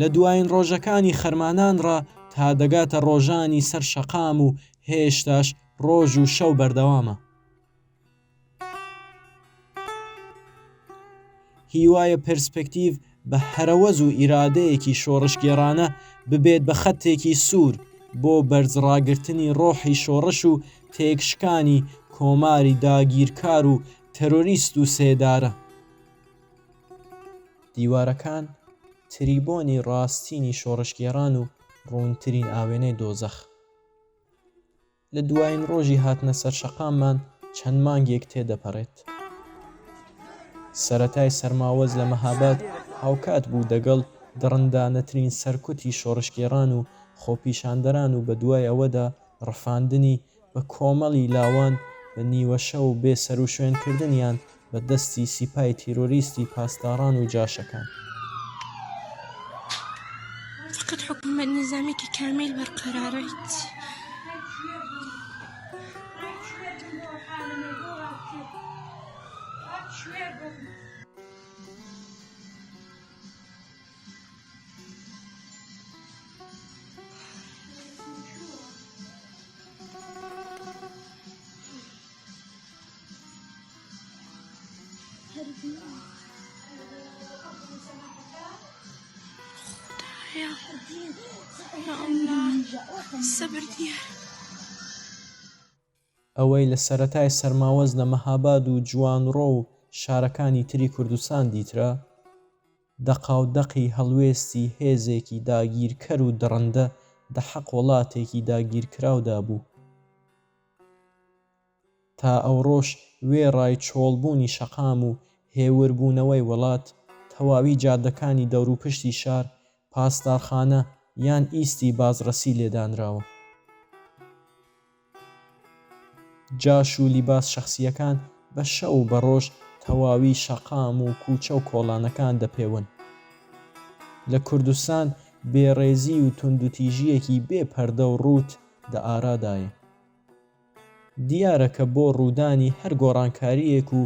لە دوایین ڕۆژەکانی خەرمانان ڕا تا دەگاتە ڕۆژانی سەر شەقام و هێشتاش ڕۆژ و شەو بەردەوامە. هیوایە پێرسپێکتیڤ بە هەرەوەز و ئیرادەیەکی شۆڕشگێڕانە ببێت بە خەتێکی سوور بۆ بەرز ڕاگرتنی ڕۆحی شۆڕش و تێکشکانی کۆماری داگیرکار و تەرۆریست و سێدارە. دیوارەکان تریبۆنی ڕاستینی شۆڕشگێڕان و ڕوونترین ئاوێنەی دۆزەخ. لە دوایین ڕۆژی هاتنە سەرشەقاممان چەند مانگێک تێدەپەڕێت. سەرەتای سەرماوەز لە مەهاباد هاوکات بوو دەگەڵ دڕندانەترین سەرکوتی شۆڕشگێڕان و خۆپیشاندەران و بەدوای ئەوەدا ڕفاندنی بە کۆمەڵی لاوان بە نیوەشەو و بێ سەروشوێنکردنیان بە دەستی سیپای تیرۆریستی پاسداران و جاشەکان. فقط حکومت نظامی که کامل برقرارید ئەوەی لە سەرەتای سەرماوەز لە مەهاباد و جوانڕۆ و شارەکانی تری کوردستان دیترا، دەقاودەقی هەڵوێستی هێزێکی داگیرکەر و دڕندە دەحەق وڵاتێکی داگیرکراودا بوو. تا ئەوڕۆش وێڕای چۆڵبوونی شەقام و هێوربوونەوەی وڵات، تەواوی جادەکانی دەوروپشتی شار پاسدارخانە یان ئیستی بازڕەسی لێدانراوە. جاش و لیباس شەخسییەکان بە شەو و بە ڕۆژ تەواوی شەقام و کووچە و کۆڵانەکان دەپێون. لە کوردستان بێڕێزی و توندوتیژییەکی بێ پەردە و ڕووت، دە ئارادایە دیارە کە بۆ ڕوودانی هەر گۆڕانکارییەک و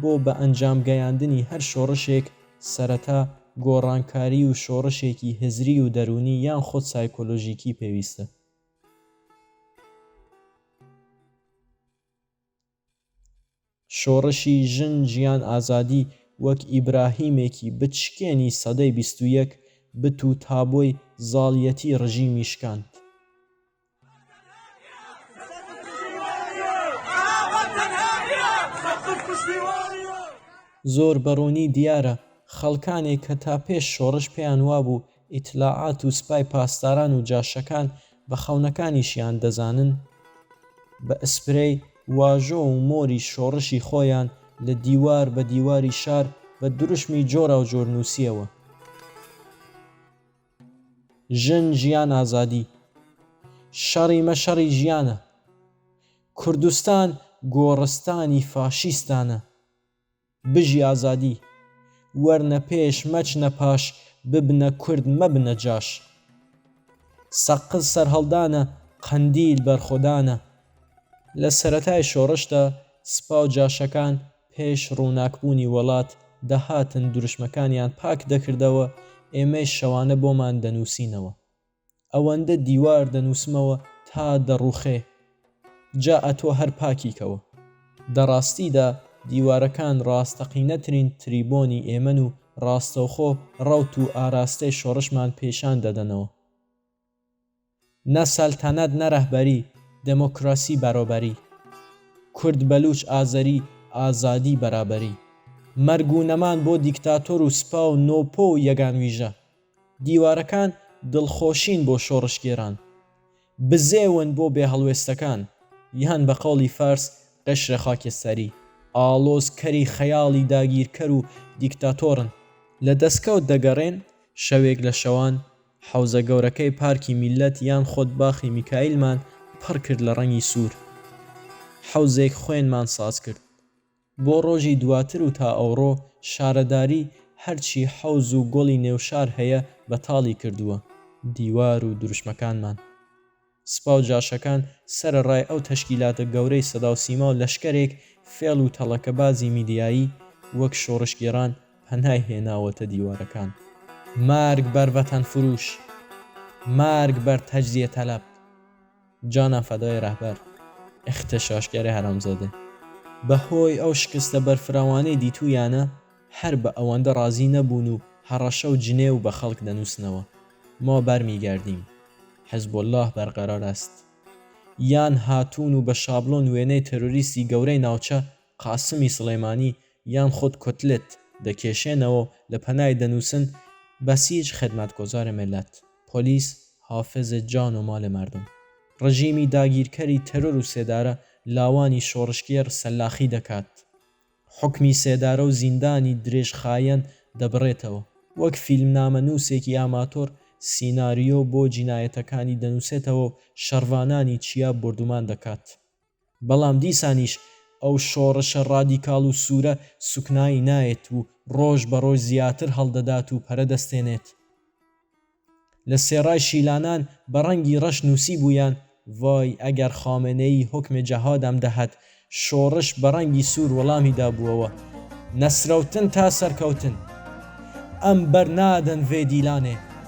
بۆ بە ئەنجام گەیاندنی هەر شۆڕشێک سەرەتا گۆڕانکاری و شۆڕشێکی هزری و دەروونی یان خود سایکۆلۆژیکی پێویستە. شۆڕشی ژن، ژیان، ئازادی وەک ئیبراهیمێکی بچکێنی سەدەی بیست و یەک بت و تابۆی زاڵیەتی ڕژیمی شکاند. زۆر بە ڕوونی دیارە خەڵکانێک کە تا پێش شۆڕش پێیان وابوو ئیتلاعات و سپای پاسداران و جاشەکان بە خەونەکانیشیان دەزانن، بە ئسپرەی واژۆ و مۆری شۆڕشی خۆیان لە دیوار بە دیواری شار بە دروشمی جۆراوجۆر نووسییەوە، ژن ژیان ئازادی، شەڕی مە شەڕی ژیانە، کوردستان گۆڕستانی فاشیستانە. بژی ئازادی. وەرنە پێش مەچنە پاش ببنە کورد مەبنە جاش سەقز سەرهەڵدانە قەندیل بەرخۆدانە لە سەرەتای شۆڕشدا سپا و جاشەکان پێش ڕووناکبوونی وەڵات دەهاتن دروشمەکانیان پاک دەکردەوە ئێمەیش شەوانە بۆمان دەنووسینەوە. ئەوەندە دیوار دەنووسمەوە تا دەڕووخێ، جا ئەتۆ هەر پاکی کەوە. دە ڕاستیدا دیوارەکان ڕاستەقینەترین تریبۆنی ئێمەن و ڕاستەوخۆ ڕەوت و ئاراستەی شۆڕشمان پیشان دەدەنەوە. نە سەلتەنەت نە ڕەهبەری، دێمۆکڕاسی بەرۆبەری، کورد بەلووچ ئازەری، ئازادی بەرابەری، مەرگ و نەمان بۆ دیکتاتۆر و سپا و نۆپۆ و یەگانویژە، دیوارەکان دڵخۆشین بۆ شۆڕشگێران، بزێون بۆ بێهەڵوێستەکان، یان بە قەوڵی فارس قشر خاکستری، ئاڵۆزکەری خەیاڵی داگیرکەر و دیکتاتۆرن. لە دەستکەوت دەگەڕێن، شەوێک لە شەوان حەوزە گەورەکەی پارکی میللەت یان خود باخی میکایلمان پڕ کرد لە ڕەنگی سوور. حەوزێک خوێنمان ساز کرد. بۆ ڕۆژی دواتر و تا ئەوڕۆ شارەداری هەرچی حەوز و گۆڵی نێوشار هەیە بەتاڵی کردووە، دیوار و دروشمەکانمان. سپا و جاشەکان سەرەڕای ئەو تەشکیلاتە گەورەی سەداوسیما و لەشکەرێک فێڵ و تەڵەکەبازی میدیایی وەک شۆڕشگێڕان پەنای هێناوەتە دیوارەکان. مەرگ بەر ڤەتەنفرووش! مەرگ بەر تەجزیە تەلەب! جانا فدای رهبر اخت شاشکار حرامزاده. بەهۆی ئەو شکستە بەرفراوانەی دیتوویانە هەر بە ئەوەندە ڕازی نەبوون و هەڕەشە و جنێو بە خەڵک دەنووسنەوە ما برمیگردیم حزب اللە برقرار است یان هاتوون و بە شابڵۆن وێنەی تێرۆریستی گەورەی ناوچە قاسمی سڵێمانی یان خود کوتلت دەکێشێنەوە و لە پەنای دەنووسن، بەسیج خدمتگزار ملت، پۆلیس حافظ جان و مال مردم. ڕژیمی داگیرکەری تەرۆر و سێدارە لاوانی شۆڕشگێڕ سەلاخی دەکات. حوکمی سێدارە و زیندانی درێژخایەن دەبڕێتەوە. وەک فیلمنامەنووسێکی ئاماتۆر سیناریۆ بۆ جینایەتەکانی دەنووسێتەوە و شەڕڤانانی چیا بۆردومان دەکات. بەڵام دیسانیش ئەو شۆڕشە ڕادیکاڵ و سوورە سوکنایی نایەت و ڕۆژ بە ڕۆژ زیاتر هەڵدەدات و پەرە دەستێنێت. لە سێڕای شیلانان بە ڕەنگی ڕەش نووسیبوویان، ڤای ئەگەر خامنەیی حوکم جەهادم دەهات، شۆڕش بە ڕەنگی سوور وەڵامی دابووەوە، نەسرەوتن تا سەرکەوتن! ئەم بەر نادەن ڤێ دیلانێ!